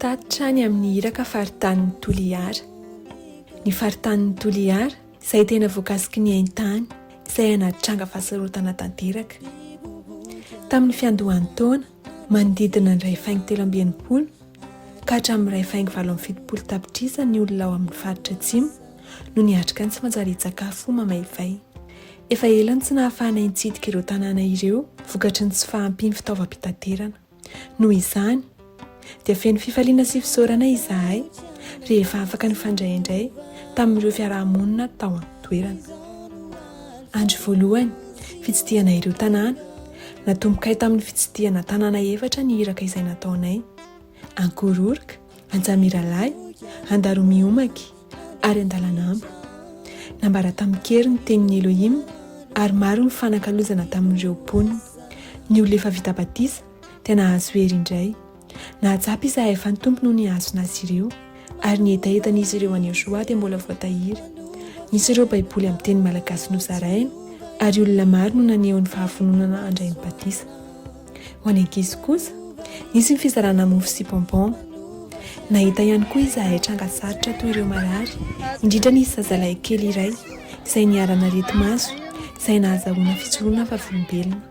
Tatitra any amin'ny iraka faritanin'ny Toliara. Ny faritanin'ny Toliara izay tena voakasiky ny haintany izay anaty tranga fahasarontana tanteraka. Tamin'ny fiandohan'ny taona, Manodidina ny iray faingo telo amby enimpolo ka hatramin'ny iray faingo valo amby fitopolo tapitrisa ny olona ao amin'ny faritra Atsimo no niatrika ny tsy manjarian-tsakafo mamaivay. Efa ela no tsy nahafahanay nitsidika ireo tanàna ireo vokatry ny tsy fahampian'ny fitaovam-pitaterana. Noho izany, dia feno fifaliana sy fisaorana izahay rehefa afaka nifandray indray tamin'ireo fiarahamonina tao an-toerana. Andro voalohany fitsidihana ireo tanàna. Natombokay tamin'ny fitsidihana tanàna efatra ny iraka izay nataonay, Ankorork, Antsamiralahy, Andaromiomaky ary Andalanambo. Nambara tamin-kery ny tenin'i Elohim ary maro ny fanakalozana tamin'ireo mponina. Ny olona efa vita batisa dia nahazo hery indray. Nahatsapa izahay fa ny Tompo no nihazona azy ireo, ary ny hetahetan'izy ireo an'i Yoshoa dia mbola voatahiry. Nisy ireo Baiboly amin'ny teny malagasy nozaraina, ary olona maro no naneho ny fahavononana handray ny batisa. Ho an'ny ankizy kosa, nisy ny fizarana mofo sy bonbon. Nahita ihany koa izahay tranga sarotra toy ireo marary, indrindra nisy zazalahy kely iray izay niharan'areti-maso, izay nahazahoana fisorohana vavolombelona.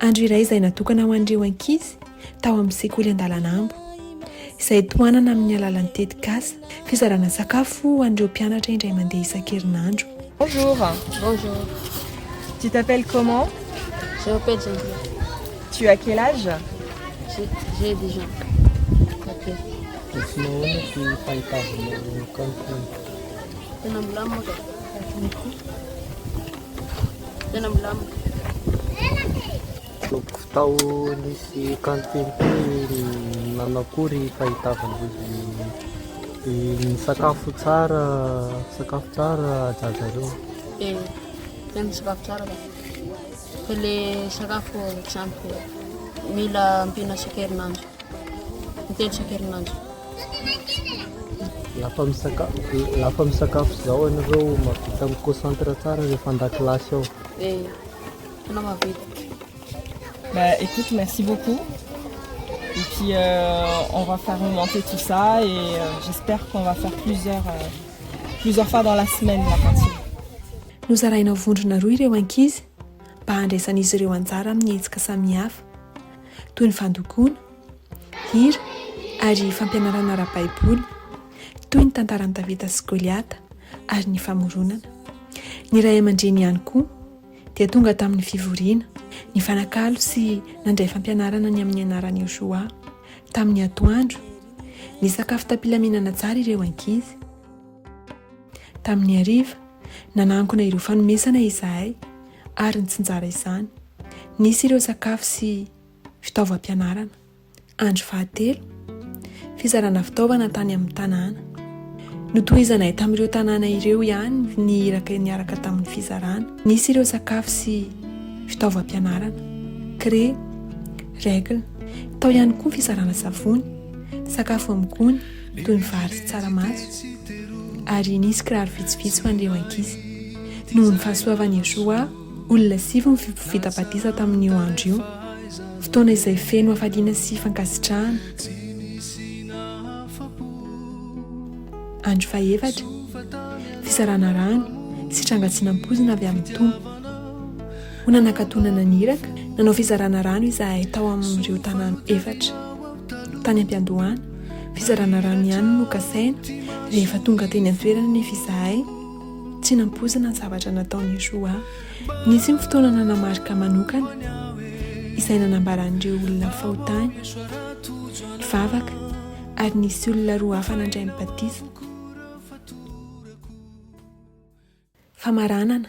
Andro iray izay natokana ho an'ireo ankizy tao amin'ny sekoly Andalanambo, izay tohanana amin'ny alalan'ny tetikasa fizarana sakafo ho an'ireo mpianatra indray mandeha isan-kerinandro. Bonjour. Bonjour. Tu t'appelles comment? Je m'appelle Jean-Pierre. Tu as quel âge? J'ai 10 ans. Ok. Tena milamina. Tena milamina. Toko tao nisy cantine teo nanao akory fahitavan'izy ny sakafo tsara sakafo tsara jajareo e eh, tena sakafo tsara ka fa le sakafo exemple mila ampiana sakerinandro mitelo sakerinandro Lafa misakafo, lafa misakafo zao anareo mahavita mi-concentre tsara rehefa an-dakilasy ao? Ee, tena mahavita. Bah écoute, merci beaucoup. Et puis euh, on va faire remonter tout ça et euh, j'espère qu'on va faire plusieurs, euh, plusieurs fois dans la semaine la cantine. Nozaraina ho vondrona roa ireo ankizy mba handraisan'izy ireo anjara amin'ny hetsika samihafa, toy ny fandokoana, Hira ary fampianarana ara-baiboly, toy ny tantaran'i Davida sy Goliata ary ny famoronana. Ny ray aman-dreny ihany koa dia tonga tamin'ny fivoriana, nifanakalo sy nandray fampianarana ny amin'ny anaran'i Yoshoa. Tamin'ny atoandro, nisakafo tam-pilaminana tsara ireo ankizy. Tamin'ny hariva, nanankona ireo fanomezana izahay ary nitsinjara izany. Nisy ireo sakafo sy. Fitaovam-pianarana, andry fahatelo, fizarana fitaovana tany amin'ny tanàna. Notohizanay tamin'ireo tanàna ireo ihany ny iraka niaraka tamin'ny fizarana. Nisy ireo sakafo sy fitaovam-pianarana, craie, règle. Tao ihany koa ny fizarana savony, sakafo amin'ny gony toy ny vary sy tsaramaso ary nisy kiraro vitsivitsy ho an'ireo ankizy. Noho ny fahasoavan'i Yeshoua, Olona sivy no fiprofita batisa tamin'io andro io. Fotoana izay feno hafaliana sy fankasitrahana. Andro fahefatra, Fizarana rano sy tranga tsy nampoizina avy amin'ny Tompo. Ho nanakatonana ny iraka, nanao fizarana rano izahay tao amin'ireo tanàna efatra. Tany am-piandohana, fizarana rano ihany no nokasaina, rehefa tonga teny an-toerana anefa izahay, Tsy nampoizina ny zavatra nataon'i Joa. Nisy ny fotoana nanamarika manokana izay nanambaran'ireo olona fahotany, vavaka, ary nisy olona roa hafa nandray ny batisa. Famaranana,